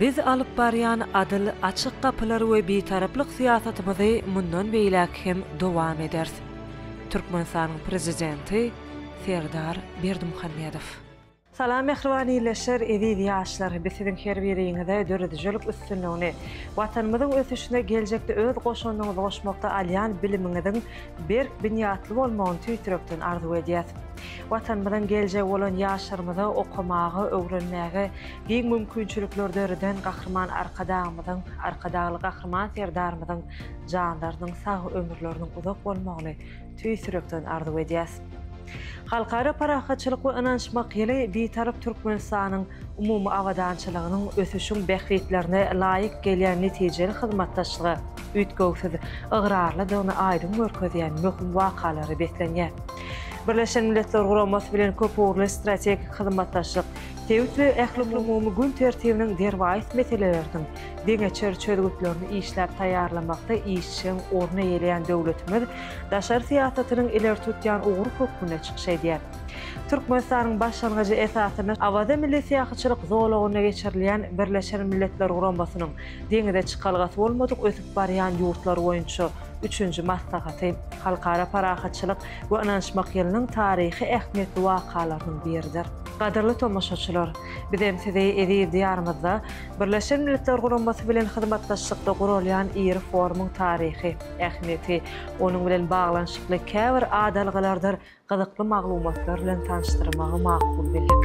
Biz alyp barýan adyl, açyk gapylar we bitaraplyk syýasatymyzy mundan beýläk hem dowam ederis. Türkmenistanyň Prezidenti Serdar Berdimuhamedow. Salam mähriban ildeşler, eziz ýaşlar! Biz siziň her biriňize döredijilik üstünligini, Watanymyzyň ösüşine geljekde öz goşandyňyzy goşmakda alýan bilimiňiziň berk binýatly bolmagyny tüýtürekden arzuw edýäs. Watanymyzyň geljegi bolan ýaşlarymyza okamaga, öwrenmäge giň mümkinçilikler döreden Gahryman Arkadagymyzyň, Arkadagly Gahryman Serdarymyzyň janlarynyň sag, ömürleriniň uzak bolmagyny, Tüýs ýürekden arzuw edýäs. Halkara parahatçylyk we ynanyşmak ýyly Bitarap Türkmenistanyň umumy abadançylygynyň, ösüşiň bähbitlerine laýyk gelýän netijeli hyzmatdaşlyga üýtgewsiz ygrarlydygyny aýdyň görkezýän möhüm wakalary beslenýär. Birleşen Milletler Guramasy bilen köpugurly strategik hyzmatdaşlyk sebit we ählumumumy gün tertibiniň derwaýys meseleleriniň deňeçer çözgütlerini işläp taýýarlamakda işjeň orun eýeleýän döwletimiz daşary syýasatynyň ileri tutýan ugry hökmünde çykyş edýär. Türkmenistanyň başlangyjy esasynda Awaza milli syýahatçylyk zolagynda geçirilýän Birleşen Milletler Guramasynyň Deňize çykalgasy bolmadyk ösüp barýan ýurtlar boýunça üçünji maslahaty Halkara parahatçylyk we ynanyşmak ýylynyň taryhy ähmiýetli wakalarynyň biridir. Gadyrly tomaşaçylar, bizem sizi eziz Diýarymyzda Birleşen Milletler Guramasy bilen hyzmatdaşlykda guralýan iri forumyň taryhy ähmiýeti, onuň bilen baglanyşykly käbir adalgalardyr gyzykly maglumatlar bilen tanyşdyrmagy makul bildik.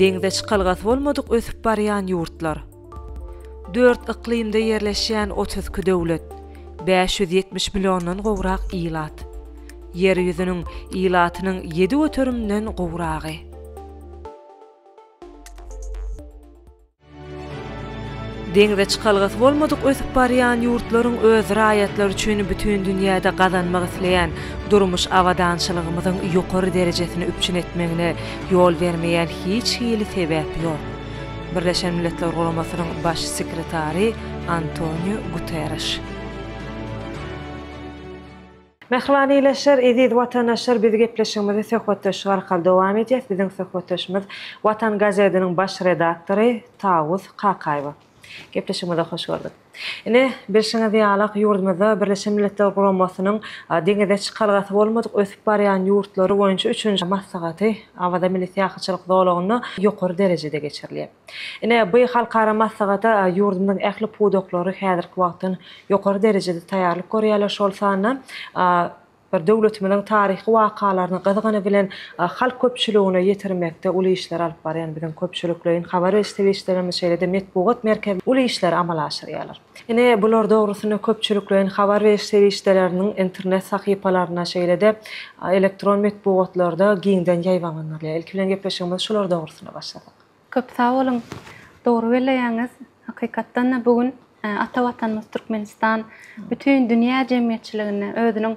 Deňze çykalgasy bolmadyk ösüp barýan ýurtlar. Dört yklymda ýerleşýän otuz iki döwlet, bäş ýüz ýetmiş milliondan gowrak ilat. Ýer ýüzüniň ilatynyň ýedi göterimden gowragy. Deňze çykalgasy bolmadyk ösüp barýan ýurtlaryň öz raýatlary üçin bütin dünýäde gazanmak isleýän durmuş abadançylygymyzyň ýokary derejesini üpjün etmegine ýol bermeýän hiç hili sebäp ýok. Birleşen Milletler Guramasynyň Baş sekretary Antoniu Guterreş. Mähriban ildeşler, eziz watandaşlar biz gepleşigimizi söhbetdeşlik arkaly dowam edýäs. Biziň söhbetdeşimiz Watan gazetiniň baş redaktory Tawus Kakaýewa. Gepleşigimize hoş gördük. Ine, bilşiňiz ýalak ýurdumyzda Birleşen Milletler Guramasynyň deňize çykalgasy bolmadyk ösüp barýan ýurtlary boýunça üçünji maslahaty Awaza milli syýahatçylyk zolagynda ýokary derejede geçirilýär. Ine, bu halkara maslahata ýurdumyzyň ähli pudaklary häzirki wagtdan ýokary derejede taýýarlyk görýärler, şol sanda bir döwletimiziň taryhy wakalaryny gyzgyny bilen halk köpçüligine ýetirmekde uly işleri alyp barýan biziň köpçülikleýin habar beriş serişdelerimiz, şeýle-de metbugat merkezleri uly işleri amala aşyrýarlar. Ine, bular dogrusynda köpçülikleýin habar beriş serişdeleriniň internet sahypalarynda, şeýle-de elektron metbugatlarda giňden ýaýbaňlandyrylýar. Ilki bilen gepleşigimizi şular dogrusynda başlasak. Köp sag boluň. Dogry belleýäňiz. Hakykatdan-da, bu gün ata Watanymyz Türkmenistan bütin dünýä jemgyýetçiligine özüniň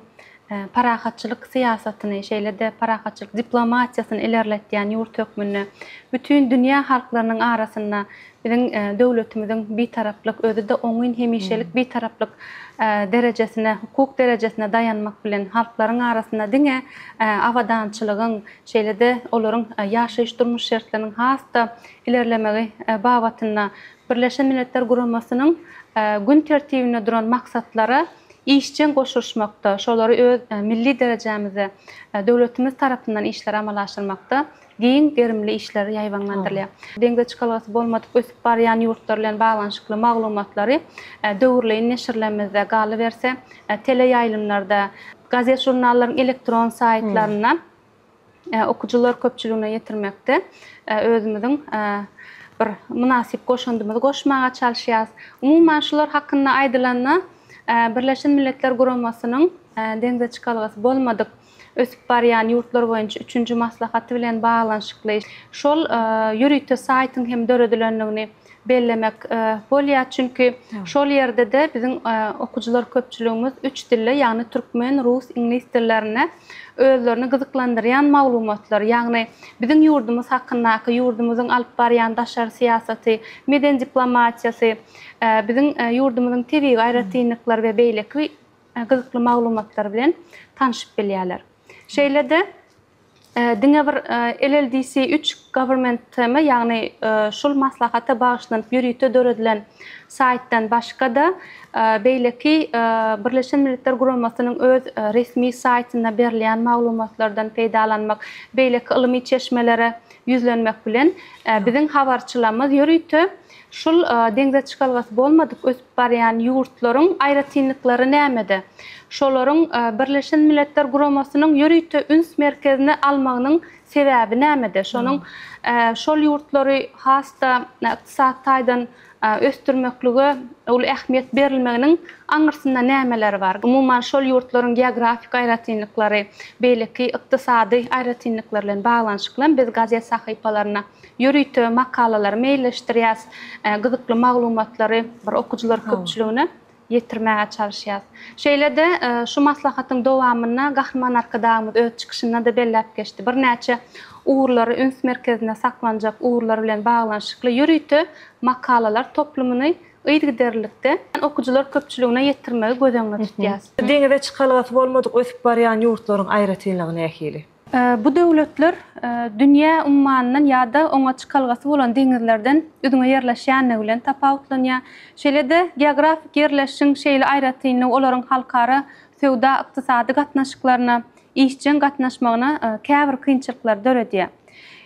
parahatçylyk syýasatyny, şeýle-de parahatçylyk diplomatiýasyny ilerletýän ýurt hökmünde bütin dünýä halklarynyň arasynda biziň döwletimiziň Bitaraplyk, özi-de oňyn hemişelik Bitaraplyk derejesine, hukuk derejesine daýanmak bilen, halklaryň arasynda diňe abadançylygyň, şeýle-de olaryň ýaşaýyş-durmuş şertleriniň has-da ilerlemegi babatynda Birleşen Milletler Guramasynyň gün tertibinde duran maksatlara işjeň goşulyşmakda, şolary öz milli derejämizde döwletimiz tarapyndan işleri amala aşyrmakda giň gerimli işler ýaýbaňlandyrylýar. Deňze çykalgasy bolmadyk ösüp barýan ýurtlar bilen baglanyşykly maglumatlary döwürleýin neşirlerimizde galyberse, teleýaýlymlarda, gazet-žurnallaryň elektron saýtlarynda okyjylar köpçüligine ýetirmekde özümiziň bir mynasyp goşandymyzy goşmaga çalyşýarys. Umuman, şular hakynda aýdylanda, Birleşen Milletler Guramasynyň deňze çykalgasy bolmadyk ösüp barýan ýurtlar boýunça üçünji maslahaty bilen baglanyşykly şol ýörite saýtyň hem döredilendigini bellemek bolýar. Çünki şol ýerde-de biziň okyjylar köpçüligimiz üç dilde, ýagny türkmen, rus, iňlis dillerinde özlerini gyzyklandyrýan maglumatlar, ýagny biziň ýurdumyz hakyndaky, ýurdumyzyň alyp barýan daşary syýasaty, meden diplomatiýasy, biziň ýurdumyzyň tebigy aýratynlyklary we beýleki gyzykly maglumatlar bilen tanşyp bilýärler. Şeýle-de diňe bir LLDC üç Government TM, ýagny şul maslahata bagyşlanyp ýörite döredilen saýtdan başga-da, beýleki Birleşen Milletler Guramasynyň öz resmi saýtynda berilýän maglumatlardan peýdalanmak, beýleki ylmy çeşmelere ýüzlenmek bilen, biziň habarçylarymyz ýörite Şul deňze çykalgasy bolmadyk ösüp barýan ýurtlaryň aýratynlyklary nämede? Şolaryň Birleşen Milletler Guramasynyň ýörite üns merkezine almagynyň sebäbi nämede? Şonuň şol ýurtlary has-da ykdysady taýdan ösdürmeklige uly ähmiýet berilmeginiň aňyrsynda nämeler bar? Umuman şol ýurtlaryň geografik aýratynlyklary, beýleki ykdysady aýratynlyklar bilen baglanyşyklymy biz gazet sahypalaryna Ýörite makalalary meýilleşdirýäs, gyzykly maglumatlary bir okyjylar köpçüligine ýetirmäge çalyşýas. Şeýle-de şu maslahatyň dowamynda Gahryman Arkadagymyz öz çykyşynda-da belläp geçdi, birnäçe ugurlary üns merkezinde saklanjak ugurlar bilen baglanyşykly ýörite makalalar toplumyny yzygiderlilikde okyjylar köpçüligine ýetirmegi göz öňünde tutýas. Deňize çykalgasy bolmadyk ösüp barýan ýurtlaryň aýratynlygy nähili? Bu döwletler dünýä ummanyndan ýa-da oňa çykalgasy bolan deňizlerden üzňe ýerleşýändigi bilen tapawutlanýar. Şeýle-de, geografik ýerleşişiň şeýle aýratynlygy olaryň halkara söwda-ykdysady gatnaşyklaryna işjeň gatnaşmagyna käbir kynçylyklary döredýär.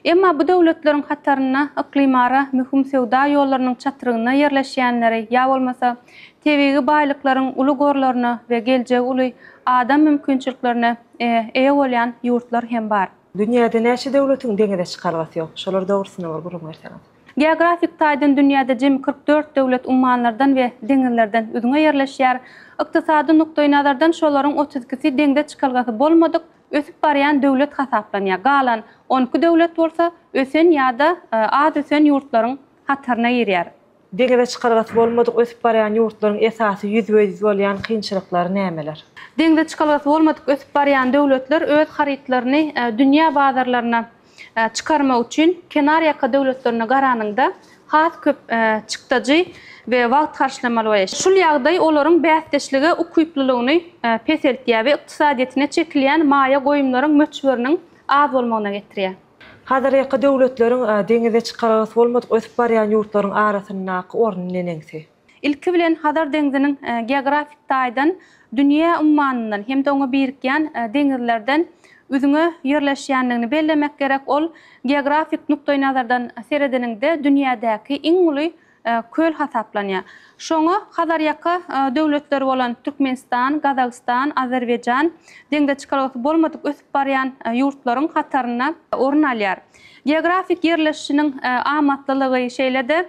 Emma bu döwletleriň hatarynda yklymara möhüm söwda ýollarynyň çatrygynda ýerleşýänleri ýa bolmasa, tebigy baýlyklaryň uly gorlaryna we geljegi uly adam mümkinçiliklerine eýe bolýan ýurtlar hem bar. Dünýäde näçe döwletiň deňize çykalgasy ýok? Şolar dogrusynda bir gürrüň berseňiz. Geografik taýdan dünýäde jemi kyrk dört döwlet ummanlardan we deňizlerden üzňe ýerleşýär. Ykdysady nukdaýnazardan şolaryň otuz ikisi deňze çykalgasy bolmadyk, ösüp barýan döwlet hasaplanýar. Galan on iki döwlet bolsa ösen ýa-da az ösen ýurtlaryň hataryna girýär. Deňize çykalgasy bolmadyk ösüp barýan ýurtlaryň esasy ýüzbe-ýüz bolýan kynçylyklary nämeler? Deňize çykalgasy bolmadyk ösüp barýan döwletler öz harytlaryny dünýä bazarlaryna çykarmak üçin kenarýaka döwletlerine garanyňda has köp çykdajy we wagt harçlamaly bolýar. Şul ýagdaý olaryň bäsdeşlige ukyplylygyny peseltýär we ykdysadyýetine çekilýän maýa goýumlaryň möçberiniň az bolmagyna getirýär. Hazarýaka döwletleriň deňize çykalgasy bolmadyk ösüp barýan ýurtlaryň arasyndaky orny neneňsi? Ilki bilen, Hazar deňziniň geografik taýdan dünýä ummanyndan hem-de oňa birikýän deňizlerden üzňe ýerleşýändigini bellemek gerek. Ol geografik nukdaýnazardan seredeniňde dünýädäki iň uly köl hasaplanýar. Şoňa Hazarýaka döwletleri bolan Türkmenistan, Gazagystan, Azerbaýjan deňze çykalgasy bolmadyk ösüp barýan ýurtlaryň hatarynda orun alýar. Geografik ýerleşişiniň amatlylygy, şeýle-de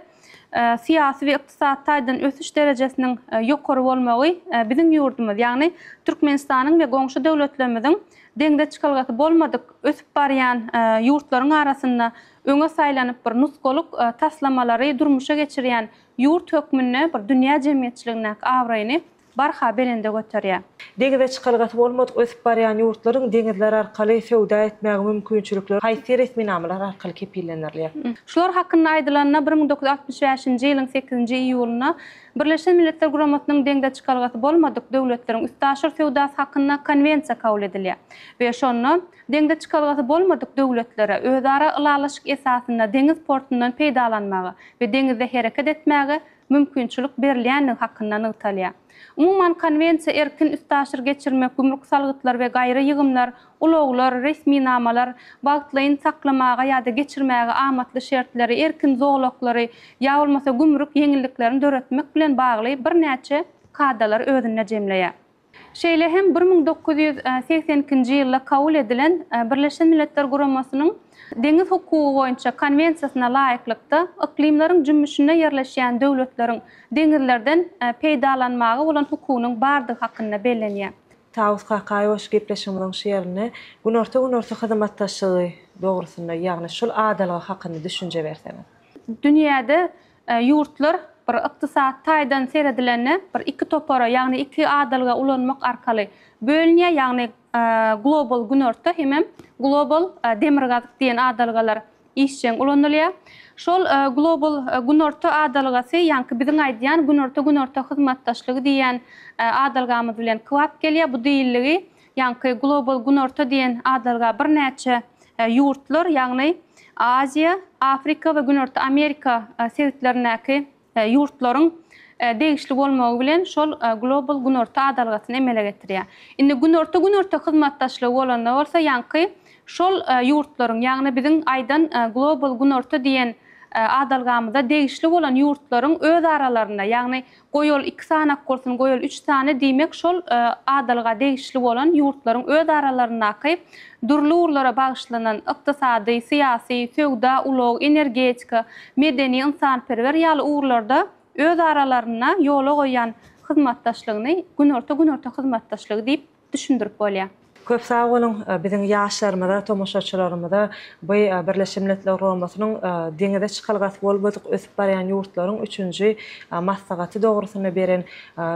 syýasy we ykdysady taýdan ösüş derejesiniň ýokary bolmagy biziň ýurdumyz, ýagny Türkmenistanyň we goňşy döwletlerimiziň deňze çykalgasy bolmadyk ösüp barýan ýurtlaryň arasynda öňe saýlanyp bir nusgalyk taslamalary durmuşa geçirýän ýurt hökmünde bir dünýä jemgyýetçiligindäki abraýyny barha belende göterýär. Deňize çykalgasy bolmadyk ösüp barýan ýurtlaryň deňizler arkaly söwda etmäge mümkinçilikleri haýsy resminamalar arkaly kepillendirilýär? Şular hakynda aýdylanda, bir müň dokuz ýüz altmyş bäşinji ýylyň sekizinji iýulynda Birleşen Milletler Guramasynyň deňze çykalgasy bolmadyk döwletleriň üstaşyr söwdasy hakynda Konwensiýa kabul edilýär we şonda Deňze çykalgasy bolmadyk döwletlere özara ylalaşyk esasynda deňiz portundan peýdalanmaga we deňizde hereket etmäge mümkinçilik berilýändigi hakynda nygtalýar. Umuman, Konwensiýa erkin üstaşyr geçirmek, gümrük salgytlary we gaýry ýygymlar, ulaglar, resminamalar, wagtlaýyn saklamaga ýa-da geçirmäge amatly şertleri, erkin zolaklary ýa bolmasa gümrük ýeňilliklerini döretmek bilen bagly birnäçe kadalary özünde jemleýär. Şeýle hem bir müň dokuz ýüz segsen ikinji ýylda kabul edilen Birleşen Milletler Guramasynyň Deňiz hukugy boýunça Konwensiýasyna laýyklykda, yklymlaryň jümmüşinde ýerleşýän döwletleriň deňizlerden peýdalanmaga bolan hukugynyň bardygy hakynda bellenýär. Tawus Kakaýewiç gepleşigimiziň şu ýerinde Günorta-Günorta hyzymatdaşlygy dogrusynda, ýagny şul adalga hakynda düşünje berseňiz. Dünýäde Ýurtlar bir ykdysady taýdan seredilende bir iki topara, ýagny iki adalga ulanmak arkaly bölünýär, ýagny Global Günorta hemem Global Demirgazyk diýen adalgalar işjeň ulanylýar. Şol Global Günorta adalgasy ýaňky biziň aýdýan Günorta-Günorta hyzmatdaşlygy diýýän adalgamyz bilen kybap gelýär. Bu diýildigi Ýaňky Global Günorta diýen adalga birnäçe ýurtlar, ýagny Aziýa, Afrika we Günorta Amerika sebitlerindäki ýurtlaryň degişli bolmagy bilen şol Global Günorta adalgasyny emele getirýär. Indi Günorta-Günorta hyzmatdaşlygy bolanda bolsa ýaňky şol ýurtlaryň, ýagny biziň aýdan Global Günorta diýen adalgamyza degişli bolan ýurtlaryň öz aralarynda, ýagny Goýaly iki sany ak bolsun, goýaly üç sany, diýmek, şol adalga degişli bolan ýurtlaryň özaralaryndaky dürli ugurlara bagyşlanan ykdysady, syýasy, söwda, ulag, energetika, medeni-ynsanperwer ýaly ugurlarda özaralarynda ýola goýan hyzmatdaşlygyny Günorta-Günorta hyzmatdaşlygy diýip düşündirip bolýar. Köp sag boluň! Biziň ýaşlarymyza, tomaşaçylarymyza bu Birleşen Milletler Guramasynyň deňize çykalgasy bolmadyk ösüp barýan ýurtlaryň üçünji maslahaty dogrusynda beren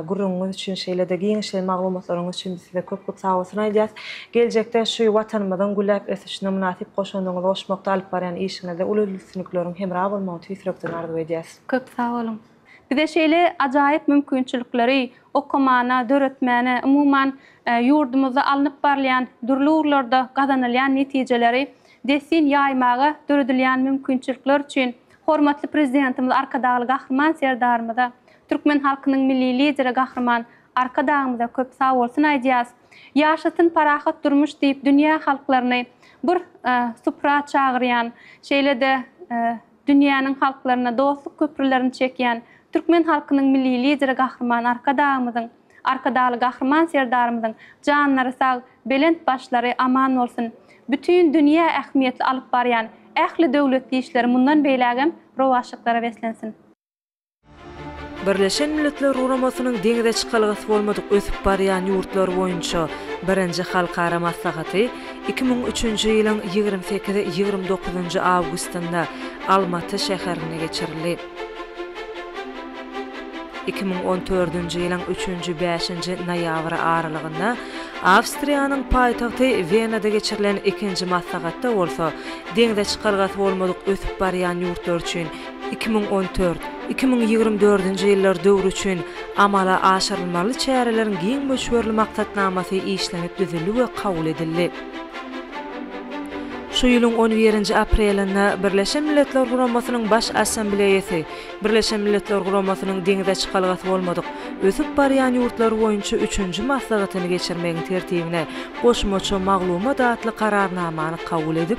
gürrüňiňiz üçin, şeýle-de giňişleýin maglumatlaryňyz üçin biz size köp-köp sag bolsun aýdýas. Geljekde şu Watanymyzyň gülläp ösüşine mynasyp goşandyňyzy goşmakda alyp barýan işiňizde uly üstünlikleriň hemra bolmagyny tüýs ýürekden arzuw edýäs. Köp sag boluň! Bize şeýle ajaýyp mümkinçilikleri okamana, döretmäne, umuman, ýurdumyzda alnyp barylýan dürli ugurlarda gazanylýan netijeleri dessin ýaýmaga döredilýän mümkinçilikler üçin hormatly Prezidentimiz Arkadagly Gahryman Serdarymyza, türkmen halkynyň Milli Lideri Gahryman Arkadagymyza köp sagbolsun aýdýas. Ýaşasyn parahat durmuş diýip dünýä halklaryny bir supra çagyrýan, şeýle-de Dünýäniň halklaryna dostluk köprülerini çekýän türkmen halkynyň Milli Lideri Gahryman Arkadagymyzyň, Arkadagly Gahryman Serdarymyzyň janlary sag, belent başlary aman bolsun! Bütin dünýä ähmiýetli alyp barýan ähli döwletli işleri mundan beýlägem rowaçlyklara beslensin! Birleşen Milletler Guramasynyň deňze çykalgasy bolmadyk ösüp barýan ýurtlar boýunça birinji halkara maslahaty iki müň üçünji ýylyň ýigrimi sekiz, ýigrimi dokuzynjy awgustynda Almaty şäherinde geçirildi. Iki müň on dördünji ýylyň üçünji, bäşinji noýabry aralygynda Awstriýanyň paýtagty Wenada geçirilen ikinji maslahatda bolsa deňze çykalgasy bolmadyk ösüp barýan ýurtlar üçin Iki müň on dört, iki müň ýigrimi dördünji ýyllar döwri üçin amala aşyrylmaly çäreleriň giň möçberli maksatnamasy işlenip düzüldi we kabul edildi. Şu ýylyň on birinji aprelinde Birleşen Milletler Guramasynyň Baş Assambleýasy Birleşen Milletler Guramasynyň Deňze çykalgasy bolmadyk ösüp barýan ýurtlar boýunça üçünji maslahatyny geçirmegiň tertibine goşmaça maglumat atly Kararnamany kabul edip,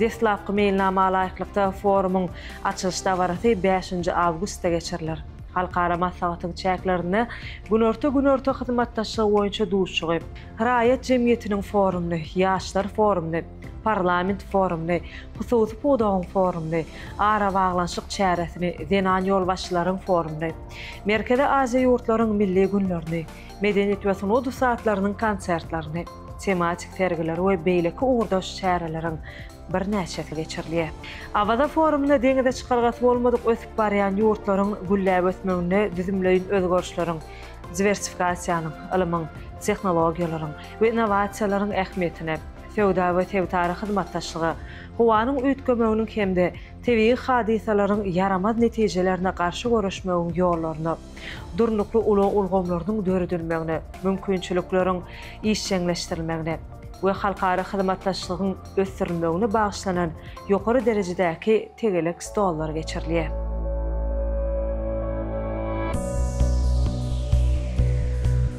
Deslapky meýilnama laýyklykda, forumyň açylyş dabarasy bäşinji awgustda geçiriler. Halkara maslahatyň çäklerinde Günorta-Günorta hyzmatdaşlygy boýunça duşuşygy, Raýat jemgyýetiniň forumyny, Ýaşlar forumyny, Parlament forumyny, Hususy pudagyň forumyny, Arabaglanyşyk çäresini, Zenan ýolbaşçylaryň forumyny, Merkezi Aziýa ýurtlaryň milli günlerini, medeniýet we sungat ussatlarynyň konsertlerini, tematik sergileri we beýleki ugurdaş çäreleriň birnäçesi geçirilýär. Awaza forumynda deňize çykalgasy bolmadyk ösüp barýan ýurtlaryň gülläp ösmeginde düzümleýin özgerişleriň, diwersifikasiýanyň, ylmyň, tehnologiýalaryň we innowasiýalaryň ähmiýetine, söwda we sebitara hyzmatdaşlyga, howanyň üýtgemeginiň hem-de tebigy hadysalaryň ýaramaz netijelerine garşy göreşmegiň ýollaryna, durnukly ulag ulgamlarynyň döredilmegine, mümkinçilikleriň işjeňleşdirilmegine we halkara hyzmatdaşlygyň ösdürilmegine bagyşlanan ýokary derejedäki tegelek stollar geçirilýär.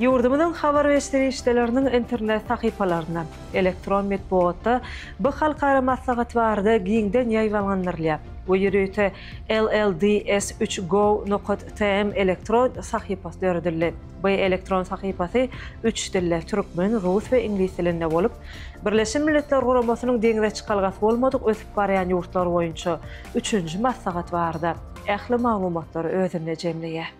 Ýurdumyzyň habar we serişdeleriniň internet sahypalarynda, elektron metbugatda bu halkara maslahat barada giňden ýaýbaňlandyrylýar we ýörite LLDS üç gov nokat TM elektron sahypasy döredildi. Bu elektron sahypasy üç dilde, türkmen, rus we iňlis dilinde bolup, Birleşen Milletler Guramasynyň deňze çykalgasy bolmadyk ösüp barýan ýurtlar boýunça üçünji maslahat barada ähli maglumatlary özünde jemleýär.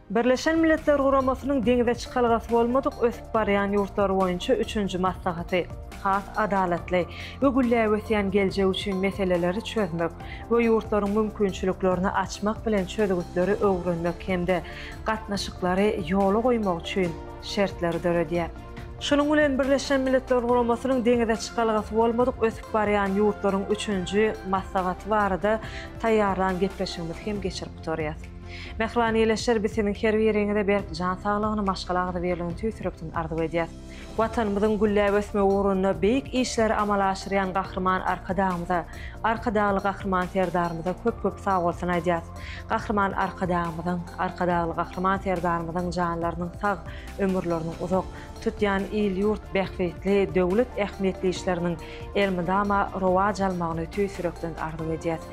Birleşen Milletler Guramasynyň deňze çykalgasy bolmadyk ösüp barýan ýurtlar boýunça üçünji maslahaty has adalatly we gülläp ösýän geljek üçin meseleleri çözmek we ýurtlaryň mümkinçiliklerini açmak bilen çözgütleri öwrenmek hem-de gatnaşyklary ýola goýmak üçin şertleri döredýär. Şunuň bilen Birleşen Milletler Guramasynyň deňze çykalgasy bolmadyk ösüp barýan ýurtlaryň üçünji maslahaty barada taýýarlan gepleşigimizi hem geçirip gutarýas. Mähriban ildeşler biz siziň her biriňize berk jan saglygyny, maşgala agzybirligini tüýs ýürekden arzuw edýäs. Watanymyzyň gülläp ösmegi ugrunda beýik işleri amala aşyrýan Gahryman Arkadagymyza, Arkadagly Gahryman Serdarymyza köp-köp sagbolsun aýdýas. Gahryman Arkadagymyzyň, Arkadagly Gahryman Serdarymyzyň janlarynyň sag, ömürleriniň uzak, tutýan il-ýurt bähbitli, döwlet ähmiýetli işleriniň elmydama rowaç almagyny tüýs ýürekden arzuw edýäs.